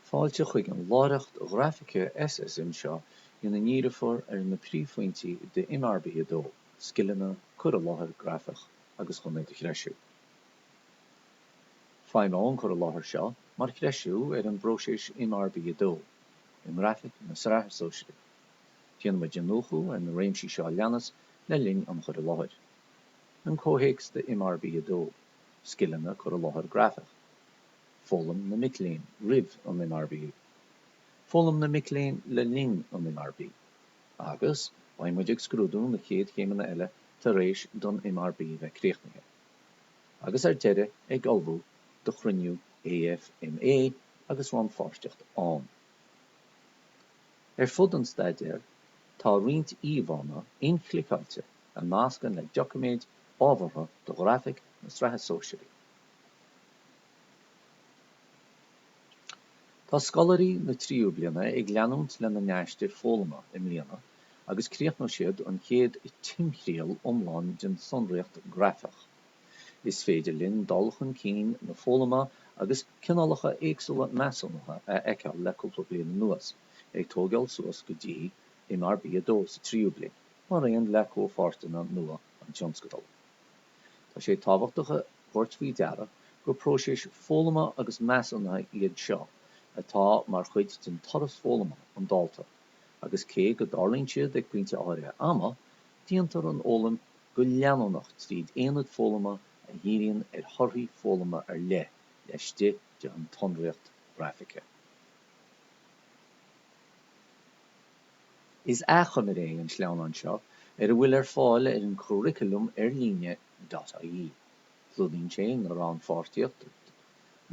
Fáilte chuig an láithreacht ghraifice SSM seo ina ndíreofar ar na príomhphointí de MRB 2, Scileanna Cur i láthair grafach agus chun iad a threisiú. Feidhmeoidh an cur i láthair seo mar threisiú ar an bpróiseas MRB 2 i nGrafaic na Sraithe Sóisearaí. Déanfaimid iniúchadh ar na réimsí seo a leanas le linn an chur i láthair, An comhthéacs de MRB 2, Scileanna, Cur i láthair grafach. Foghlaim na mic léinn roimh an MRB, foghlaim na mic léinn le linn an MRB, agus beidh muid ag scrúdú na chéad chéimeanna eile tar éis don MRB bheith críochnaithe, agus ar deireadh ag ullmhú do chruinniú AFMÁ agus rannpháirteacht ann. Ar fud an staidéir tá roinnt íomhánna inchliceáilte a nascann le doiciméid ábhartha do Ghrafaic na Sraithe Sóisearaí. Tá scoláirí na tríú bliana ag leanúint lena n-aistear foghlama i mbliana agus críochnóidh siad an chéad timthriall iomlán den tsonraíocht ghrafach. Is féidir linn dul chun cinn na foghlama agus cineálacha éagsúla measúnaithe a fheiceáil le cúpla bliain anuas, ag tógáil suas go dtí MRB2 sa tríú bliain, mar aon le comhpháirteanna nua an tionscadail. Tá sé tábhachtach a thabhairt faoi deara gur próisis foghlama agus measúnaithe iad seo atá mar chuid den turas foghlama an dalta agus cé go dtarlaíonn siad ag pointe áirithe ama, déantar an fhoghlaim go leanúnach tríd aonaid foghlama a dhíríonn ar thorthaí foghlama ar leith laistigh de an tsonraíocht ghraifice. Is achoimre é an sleamhnán seo ar a bhfuil ar fáil ar an Churriculum ar líne dot ie. Clúdaíonn sé na rannpháirtíocht,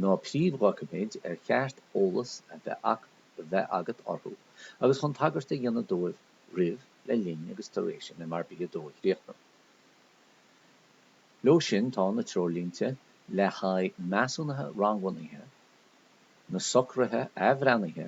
na príomhdhoiciméid ar cheart eolas a bheith agat orthu agus chun tagairt a dhéanamh dóibh roimh, le linn agus tar éis an MRB 2 a chríochnú. Leo sin tá na treoirlínte le haghaidh measúnaithe rangbhunaithe, na socruithe athbhreithnithe,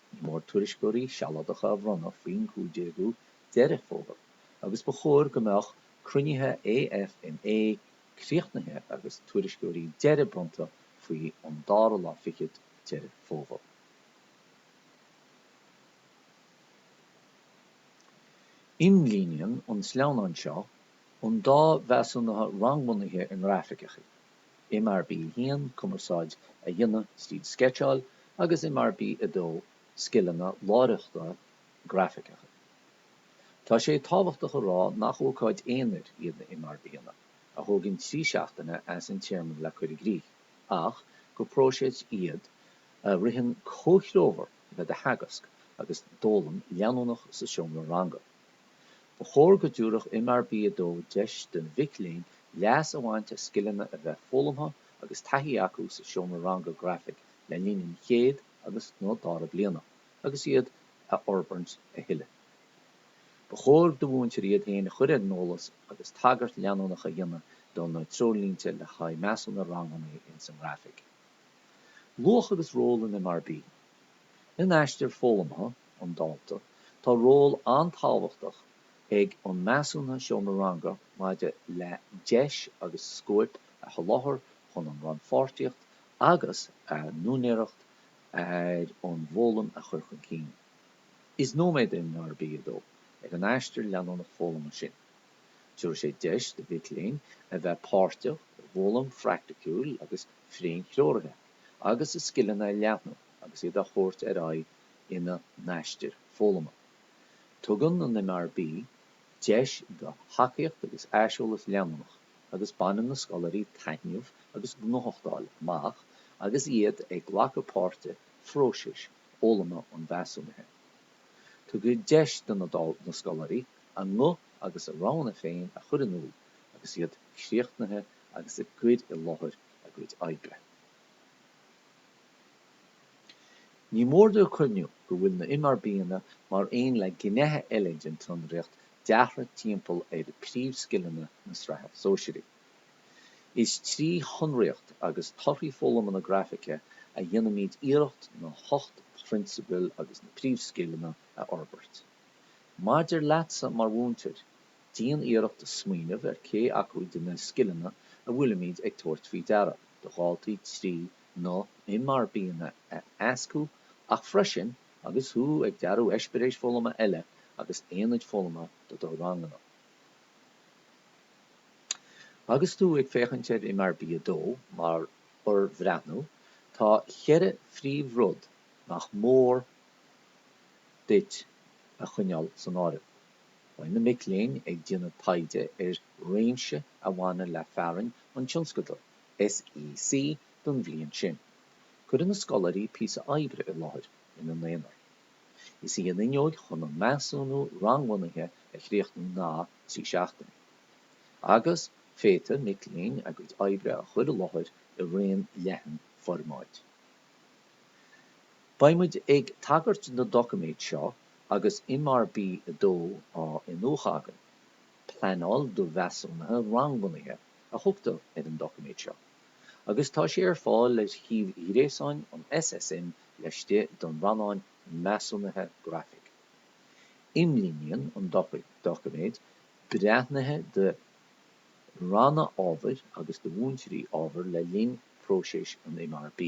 Ní mór tuairisceoirí sealadacha a bhronnadh faoin 15ú Deireadh Fómhair agus ba chóir go mbeadh cruinnithe AFMÁ críochnaithe agus tuairisceoirí deiridh bronnta faoi an 2ú lá fichead Deireadh Fómhair. Imlíníonn an sleamhnán seo an dá mheasúnaithe rangbhunaithe i ngrafaic a MRB 1, Cumarsáid a dhéanamh tríd Sceitseáil agus MRB 2, Scileanna láithreachta grafaiceacha. Tá sé tábhachtach a rá nach ócáid aonair iad na MRBanna, a thógann trí seachtaine as an téarma le cur i gcrích, ach gur próiseas iad a ritheann comhthreomhar le do theagasc agus d'fhoghlaim leanúnach sa seomra ranga. Ba chóir go dtabharfadh MRB 2 deis do mhic léinn leas a bhaint as scileanna a bheith foghlamtha agus taithí acu sa seomra ranga grafaic le linn an chéad agus, nó dara bliana agus iad a fhorbairt a thuilleadh. Ba chóir do mhúinteoirí iad féin a chur ar an eolas agus tagairt leanúnach a dhéanamh do na Treoirlínte le haghaidh Measúnú Rangbhunaithe ins an nGrafaic. Luach agus ról an MRB. In aistear foghlamtha an dalta, tá ról an-tábhachtach ag an measúnaithe seomra ranga maidir le deis agus scóip a sholáthar chun an rannpháirtíocht agus a n-úinéireacht ar an bhfoghlaim a chur chun cinn. Is nóiméad é an MRB 2 ag an aistear leanúnach foghlama sin. Tabharfaidh sé deis do mhic léinn a bheith páirteach i bhfoghlaim phraicticiúil agus féin-threoraithe. agus a scileanna a leathnú agus iad a thabhairt ar aghaidh ina n-aistir foghlama. Tugann an MRB deis do thacaíocht agus aiseolas leanúnach agus baineann na scoláirí taitneamh agus gnóthachtáil amach agus iad ag glacadh páirt i bpróiseas fhoghlama an mheasúnaithe. Tugadh deis do na scoláirí a nguth agus a roghanna féin a chur in iúl agus iad críochnaithe agus ag cur i láthair a a gcuid oibre. Ní mór dúinn cuimhniú go bhfuil na MRBanna mar aon le gnéithe eile den tsonraíocht deartha timpeall ar príomhscileanna na Sraithe Sóisearaí. Is trí shonraíocht agus torthaí foghlama na Grafaice a dhéanaimid iarracht na hocht bprionsabail agus na príomhscileanna a fhorbairt. Maidir leatsa mar mhúinteoir, Déan iarracht smaoineamh ar cé acu de na scileanna a bhfuilimid ag tabhairt faoi deara do dhaltaí trí na MRBanna a éascú ach freisin agus thú ag dearadh eispiréis foghlama eile agus aonaid foghlama do do ranganna. Agus tú ag féachaint ar MRB 2 mar fhorbhreathnú, tá cheithre phríomhrud nach mór duit a choinneáil san áireamh. Beidh na mic léinn ag déanamh taighde ar réimse a bhaineann le fearainn an tionscadail SEC don bhliain sin. Cuirfidh na scoláirí píosa oibre i láthair ina n-aonar. Is í an fhuinneoig chun an measúnú rangbhunaithe a chríochnú ná trí seachtaine agus féadfaidh mic léinn a gcuid oibre a chur i láthair i raon leathan formáid. Beidh muid ag tagairt na doiciméid seo agus MRB 2 á iniúchadh againn. Pleanáil do Mheasúnuithe Rangbhunaithe a thugtar ar an doiciméad seo agus tá sé ar fáil ar shuíomh gréasáin an SSM laistigh den rannán Measúnuithe Grafaice. Imlíníonn an doiciméad breithnithe do. ranna ábhair agus do mhúinteoirí ábhair le linn phróiseas an MRB.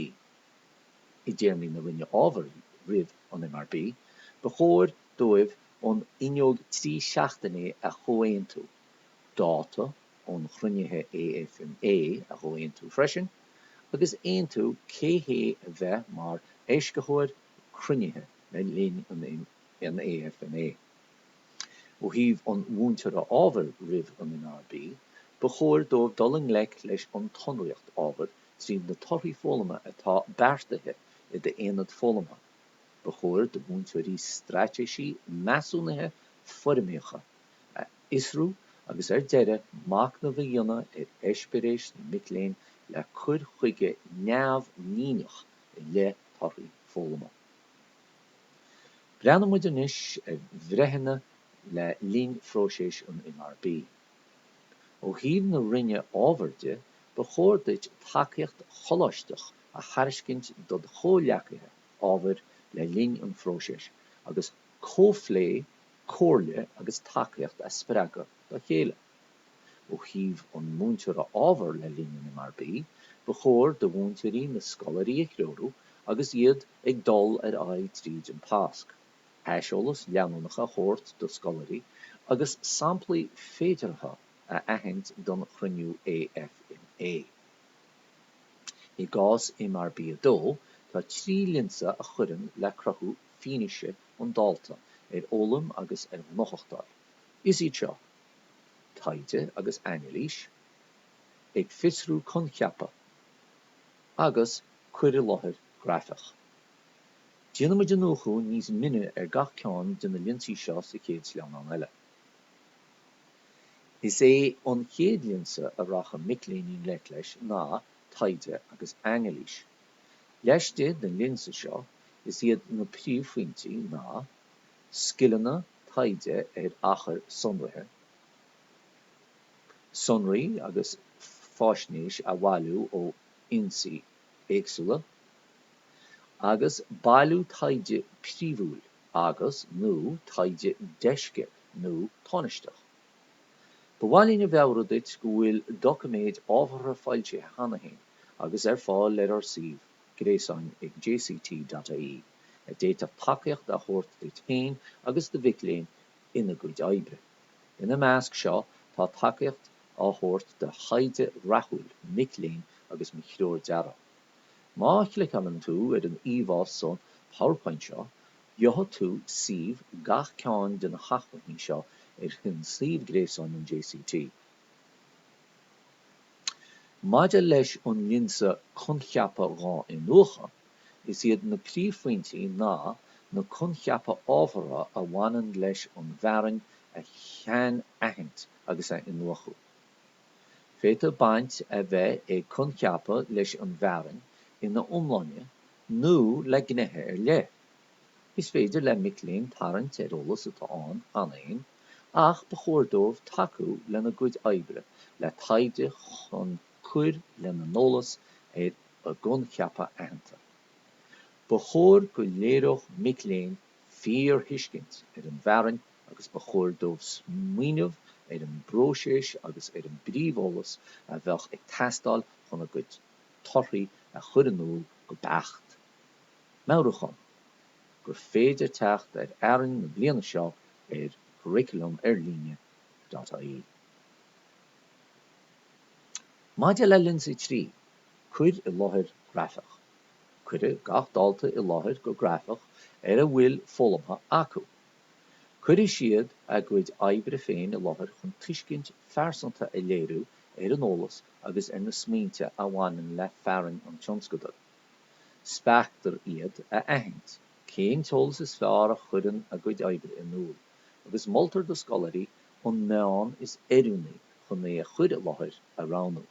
I dtéarmaí na roinne ábhair roimh an MRB, ba chóir dóibh an fhuinneog trí seachtaine a chomhaontú, dáta an chruinnithe AFMÁ a chomhaontú freisin, agus aontú cé hé a bheidh mar éascaitheoir cruinnithe le linn an AFMÁ. Ó thaobh an mhúinteora ábhair roimh an MRB, ba chóir dóibh dul i ngleic leis an tsonraíocht ábhair trí na torthaí foghlama atá beartaithe i d'aonad foghlamtha. Ba chóir do mhúinteoirí straitéisí measúnaithe foirmitheacha a fhiosrú agus ar deireadh machnamh a dhéanamh ar eispéiréis na mic léinn le cur chuige neamhlíneach i leith torthaí foghlama. Breathnaímid anois ar bhreithnithe le linn phróiseas an MRB. Ó thaobh na Roinne ábhair de, ba chóir duit tacaíocht choláisteach a thairiscint dod chomhghleacaithe ábhair le linn an phróisis agus comhphlé, comhairle agus tacaíocht a spreagadh dá chéile. Ó thaobh an mhúinteora ábhair le linn an MRB, ba chóir do mhúinteoirí na scoláirí a threorú agus iad ag dul ar aghaidh tríd an tasc, aiseolas leanúnach a thabhairt do scoláirí agus samplaí féideartha a aithint don chruinniú AFMÁ. I gcás MRB 2, tá trí lionsa a chuireann le cruthú fianaise an dalta ar fhoghlaim agus ar ghnóthachtáil. Is iad seo. taighde agus anailís, ag fiosrú coincheapa, agus cur i láthair grafach. Déanfaimid iniúchadh níos mine ar gach ceann de na lionsaí seo sa chéad sleamhnán eile. Is é an chéad lionsa a rachaidh mic léinn i ngleic leis ná taighde agus anailís. Laistigh den lionsa seo, is iad na príomhphointí ná, scileanna, taighde ar achair sonraithe, sonraí agus faisnéis a bhailiú ó fhoinsí éagsúla, agus bailiú taighde príomhúil agus, nó taighde deisce nó tánaisteach. Ba mhaith linn a mheabhrú duit go bhfuil doiciméid ábhartha foilsithe cheana féin agus ar fáil ar ár suíomh gréasáin ag jct.ie. a d'fhéadfadh tacaíocht a thabhairt duit féin agus do mhic léinn ina gcuid oibre. Ina measc seo tá tacaíocht á thabhairt do thaighde rathúil mac léinn agus mo threoir dearaidh. Má chliceálann tú ar an íomhá sa PowerPoint seo, gheobhaidh tú suíomh gach ceann de na hacmhainní seo ar shuíomh gréasáin an JCT. Maidir leis an lionsa coincheapa á iniúchadh, is iad na príomhphointí ná na coincheapa ábhartha a bhaineann leis an bhfearainn a shainaithint agus a iniúchadh. Féadfaidh baint a bheith ag coincheapa leis an bhfearainn ina iomláine nó le gnéithe ar leith. Is féidir le mic léinn tarraingt ar eolas atá ann cheana féin. ach ba chóir dóibh tacú lena gcuid oibre le taighde chun cur lena n-eolas ar choincheapa aitheanta. Ba chóir go léireodh mic léinn fíorthuiscint ar an bhfearainn agus ba chóir dóibh smaoineamh ar an bpróiseas agus ar an bpríomheolas a bheadh ag teastáil chun a gcuid torthaí a chur in iúl go beacht. Meabhrúchán. gur féidir teacht ar fhearainn na bliana seo ar Curriculum ar líne. ie. Maidir le lionsa 3, Cuir i láthair grafach, cuirfidh gach dalta i láthair go grafach ar a bhfuil foghlamtha acu. Cuirfidh siad a gcuid oibre féin i láthair chun tuiscint phearsanta a léiriú ar an eolas agus ar na smaointe a bhaineann le fearainn an tionscadail. Spreagtar iad a aithint cén t-eolas is fearr a chuireann a gcuid oibre in iúl agus moltar do scoláirí an meán is oiriúnaí chun é a chur i láthair a roghnú.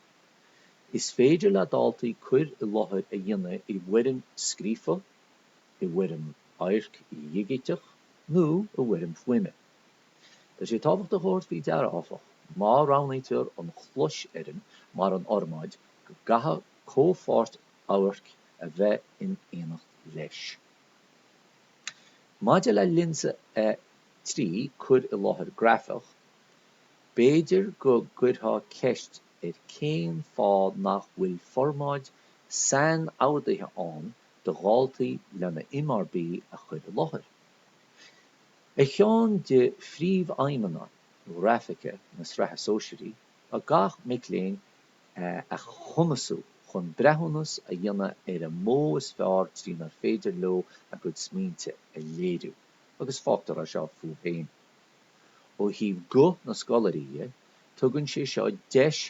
Is féidir le daltaí cur i láthair a dhéanamh i bhfoirm scríofa, i bhfoirm amhairc dhigiteach nó i bhfoirm fuaime. Tá sé tábhachtach a thabhairt faoi deara, áfach, má roghnaítear an closfhoirm mar an fhormáid go gcaithfidh comhpháirt amhairc a bheith in éineacht leis. Maidir le lionsa 3, cur i láthair grafach, b'fhéidir go gcuirtheá ceist ar cén fáth nach bhfuil formáid sainmhandáidithe ann do dhaltaí lena MRB a chur i láthair. Ar cheann de phríomhaidhmeanna ghrafaice na Sraithe Sóisearaí ná gach mac léinn a chumasú chun breithiúnas a dhéanamh ar an mbealach is fearr trínar féidir leo a gcuid smaointe a léiriú, agus fágtar é seo fúthu féin. Ó thaobh guth na scoláirí dhe, tugann sé seo deis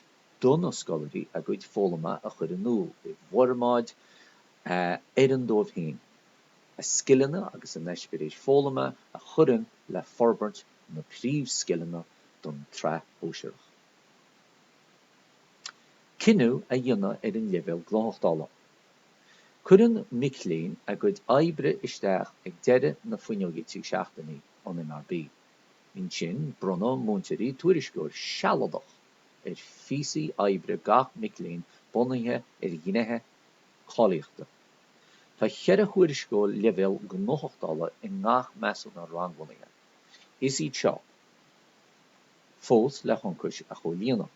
do na scoláirí a gcuid foghlama a chur in iúl i bhformáid a fheileann dóibh féin, a scileanna agus a n-eispéiris foghlama a chuireann le forbairt na bpríomhscileanna don tsraith shóisearach. cinneadh a dhéanamh ar an leibhéal gnóthachtála. Cuireann mic léinn a gcuid oibre isteach ag deireadh na fuinneoige trí seachtainí an MRB. Ansin bronnann múinteoirí tuairisceoir sealadach ar phíosaí oibre gach mic léinn bunaithe ar ghnéithe cáilíochta. Tá ceithre thuairisceoir leibhéal gnóthachtála i ngach measúnán rangbhunaithe. Is iad seo. fós le hionchais a chomhlíonadh.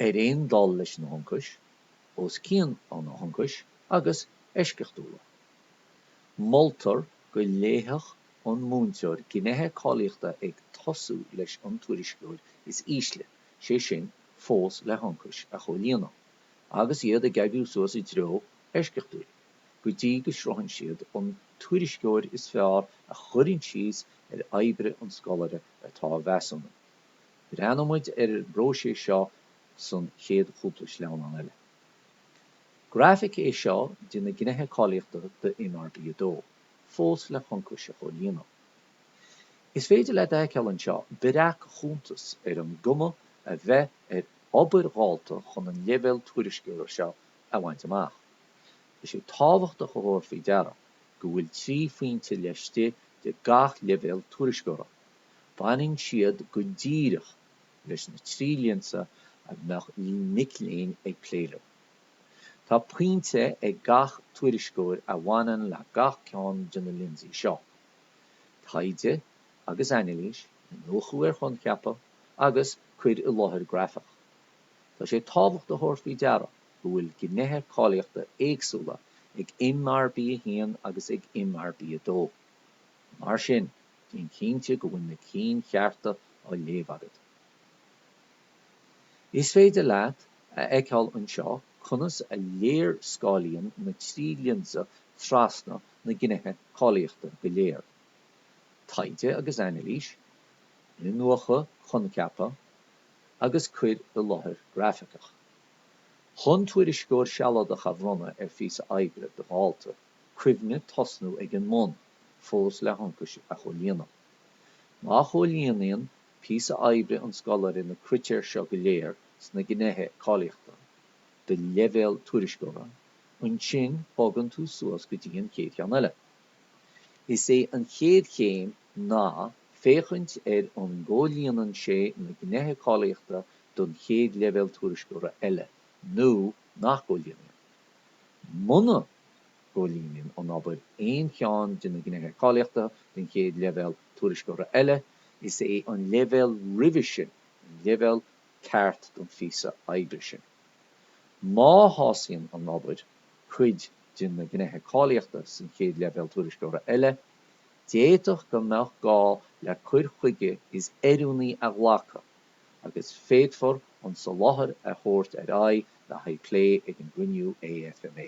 Ar aon dul leis na hionchais, os cionn na n-ionchas agus eisceachtúil, moltar go léifeadh an múinteoir gnéithe cáilíochta ag tosú leis an tuairisceoir is ísle, sé sin, fós le hionchais a chomhlíonadh, agus iad ag obair suas i dtreo eisceachtúil. go dtí go sroicheann siad an tuairisceoir is fearr a chuireann síos ar obair an scoláire atá á mheasúnú. Breathnóidh muid ar an bpróiseas seo sa chéad chúpla sleamhnán eile. Grafaic é seo de na gnéithe cáilíochta do MRB 2, fós le hionchais a chomhlíonadh. Is féidir leat a fheiceáil anseo breac-chuntas ar an gcuma a bheadh ar obair dalta chun an leibhéal tuairisceora seo a bhaint amach. Tá sé tábhachtach a thabhairt faoi deara go bhfuil trí phointe laistigh de gach leibhéal tuairisceora. Baineann siad go díreach leis na trí lionsa a mbeadh mic léinn ag plé leo. Tá pointe ag gach tuairisceoir a bhaineann le gach ceann de na lionsaí seo, taighde agus anailís, iniúchadh ar choincheapa, agus cur i láthair grafach. Tá sé tábhachtach a thabhairt faoi deara, go bhfuil gnéithe cáilíochta éagsúla ag MRB1 agus ag MRB2. Mar sin, déan cinnte go bhfuil na cinn chearta á léamh agat. Is féidir leat a fheiceáil anseo conas a léarscáilíonn na trí lionsa trasna na gnéithe cáilíochta go léir, Taighde agus Anailís, Iniúchadh, Coincheapadh agus Cur i Láthair Grafaiceach. Chun tuairisceoir sealadach a bhronnadh ar phíosa oibre do dhalta, cuimhnigh tosnú ag an mbun, fós le hionchais a chomhlíonadh. Má chomhlíonann píosa oibre an scoláire na critéir seo go léir sna Gnéithe Cáilíochta do leibhéal tuairisceora, ansin bogann tú suas go dtí an chéad cheann eile. Is é an chéad chéim ná féachaint ar an gcomhlíonann sé na Gnéithe Cáilíochta don chéad leibhéal tuairisceora eile nó nach gcomhlíonann. Muna gcomhlíonann an obair aon cheann de na Gnéithe Cáilíochta don chéad leibhéal tuairisceora eile, is é an leibhéal roimhe sin an leibhéal ceart don phíosa oibre sin. Má shásaíonn an obair cuid de na Gnéithe Cáilíochta san chéad leibhéal tuairisceora eile, D'fhéadfadh go mbeadh gá le cur chuige is oiriúnaí a ghlacadh agus féadfar an soláthar a thabhairt ar aghaidh le haghaidh plé ag an gcruinniú AFMÁ.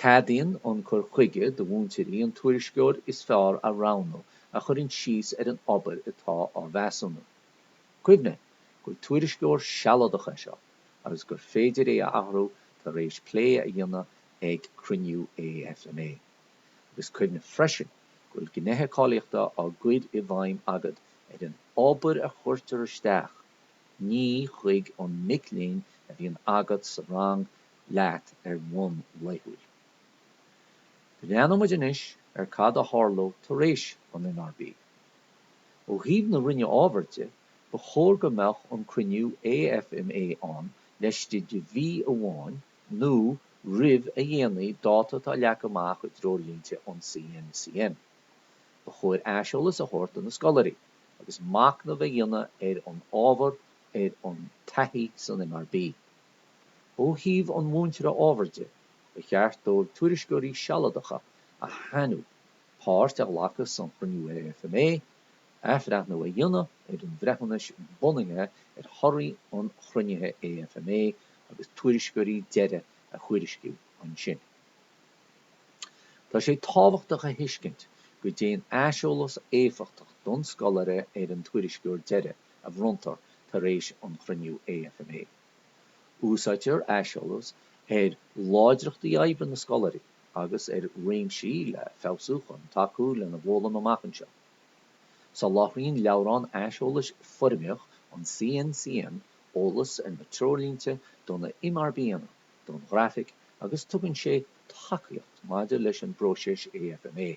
Ceadaíonn an cur chuige do mhúinteoirí an tuairisceoir is fearr a roghnú a chuireann síos ar an obair atá á mheasúnú. Cuimhnigh gur tuairisceoir sealadach é seo agus gur féidir é a athrú tar éis plé a dhéanamh ag cruinniú AFMÁ. agus cuimhnigh freisin go bhfuil gnéithe cáilíochta á gcur i bhfeidhm agat ar an obair a chuirtear isteach, ní chuig an mic léinn a bhíonn agat sa rang leat ar bhonn laethúil. Breathnóidh muid anois ar cad a tharlóidh tar éis an MRB. Ó thaobh na Roinne Ábhair de, ba chóir go mbeadh an cruinniú AFMÁ ann laistigh de mhí amháin, nó roimh a déanaí dáta atá leagtha amach i dTreoirlínte an CNCM. Ba chóir aiseolas a thabhairt do na scoláirí agus machnamh a dhéanamh ar an ábhar ar an taithí san MRB. Ó thaobh an mhúinteora ábhair de, ba cheart dóibh tuairisceoirí sealadacha a shannadh, páirt a ghlacadh san chruinniú AFMÁ, Athbhreithniú a dhéanamh ar an bhreithiúnas bunaithe ar thorthaí an chruinnithe AFMÁ agus tuairisceoirí deiridh a thuairisciú ansin. Tá sé tábhachtach a thuiscint go dtéann aiseolas éifeachtach don scoláire ar an tuairisceoir deiridh a bhronntar tar éis an chruinniú AFMÁ. Úsáidtear aiseolas ar láidreachtaí oibre na scoláirí agus ar réimsí le feabhsú chun tacú lena bhfoghlaim amach anseo. Soláthraíonn leabhrán aiseolais foirmitheach an CNCM eolas ar na treoirlínte do na MRBanna don Ghrafaic agus tugann sé tacaíocht maidir leis an bpróiseas AFMÁ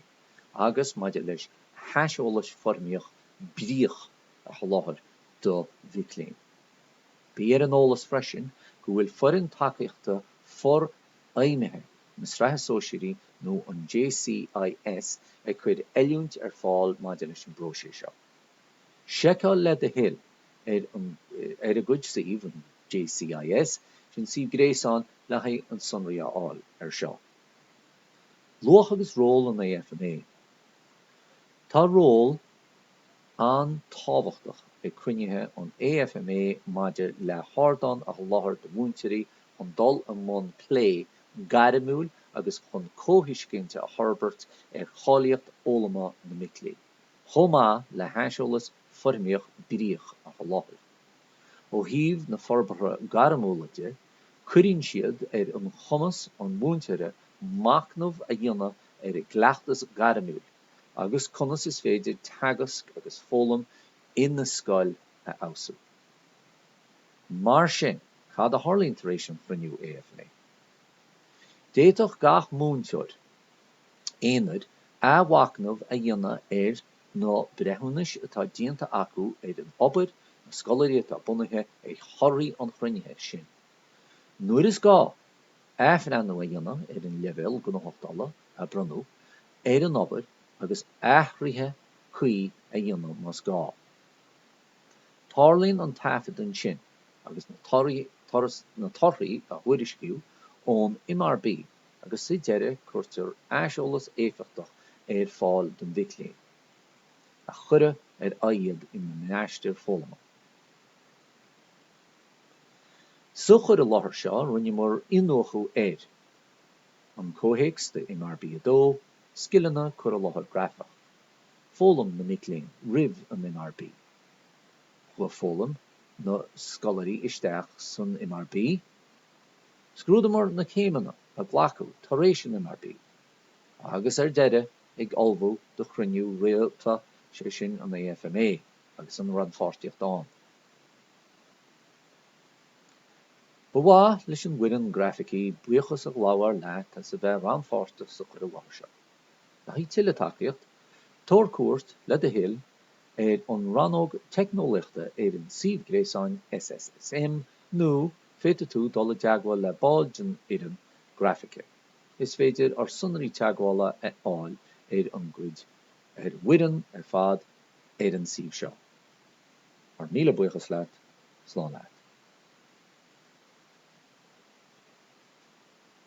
agus maidir leis haiseolais foirmitheach bríoch a sholáthar do mhic léinn. Bí ar an eolas freisin go bhfuil foireann tacaíochta for fheidhmithe na Sraithe Sóisearaí nó an JCIS ag cur oiliúint ar fáil maidir leis an bpróiseas seo. Seiceáil le do thoil ar a gcuid suíomh, an JCIS, sin suíomh gréasáin le haghaidh an sonraí a fháil ar seo. Luach agus ról an AFMÁ Tá ról an-tábhachtach ag cruinnithe an AFMÁ maidir le hardán a sholáthar do mhúinteoirí chun dul i mbun plé gairmiúil agus chun comhthuiscint a fhorbairt ar cháilíocht fhoghlama na mic léinn, chomh maith le haiseolas foirmitheach bríoch a sholáthar. Ó thaobh na forbartha gairmiúla de, cuireann siad ar an chumas an mhúinteora machnamh a dhéanamh ar a gcleachtas gairmiúil agus conas is féidir teagasc agus foghlaim ina scoil a fheabhsú. Mar sin, cad a tharlaíonn tar éis an chruinniú AFMÁ? D'fhéadfadh gach múinteoir aonair athmhachnamh a dhéanamh ar na breithiúnais atá déanta acu ar an obair, na scoláirí atá bunaithe ar thorthaí an chruinnithe sin. Nuair is gá, athbhreithniú a dhéanamh ar an leibhéal gnóthachtála a bronnadh ar an obair agus athruithe cuí a dhéanamh más gá. Tarlaíonn an taifead ansin agus na torthaí a thuairisciú ón MRB agus sa deireadh cuirtear aiseolas éifeachtach ar fáil don mhic léinn a cuireadh ar aghaidh iad ina n-aistear foghlama. Sa chur i láthair seo rinneamar iniúchadh ar, An comhthéacs do MRB 2, Scileanna, Cur i láthair grafach. foghlaim na mic léinn roimh an MRB. Chuaigh foghlaim na scoláirí isteach san MRB. Scrúdamar na céimeanna a glacadh tar éis an MRB agus ar deireadh ag ullmhú do chruinniú rialta, sé sin an AFMA agus an rannpháirtíocht ann. Ba mhaith leis an bhfoireann Grafaice buíochas a ghabháil leat as a bheith rannpháirteach sa chur i láthair seo. haghaidh tuilleadh tacaíocht, tabhair cuairt, le do thoil, ar an rannóg Teicneolaíochta ar an suíomh gréasáin SSSM nó féadfaidh tú dul i dteagmháil le ball den fhoireann Grafaice. Is féidir ár sonraí teagmhála a fháil ar an gcuid ar bhfoireann ar fad ar an suíomh seo. Ár míle buíochas leat. Slán leat.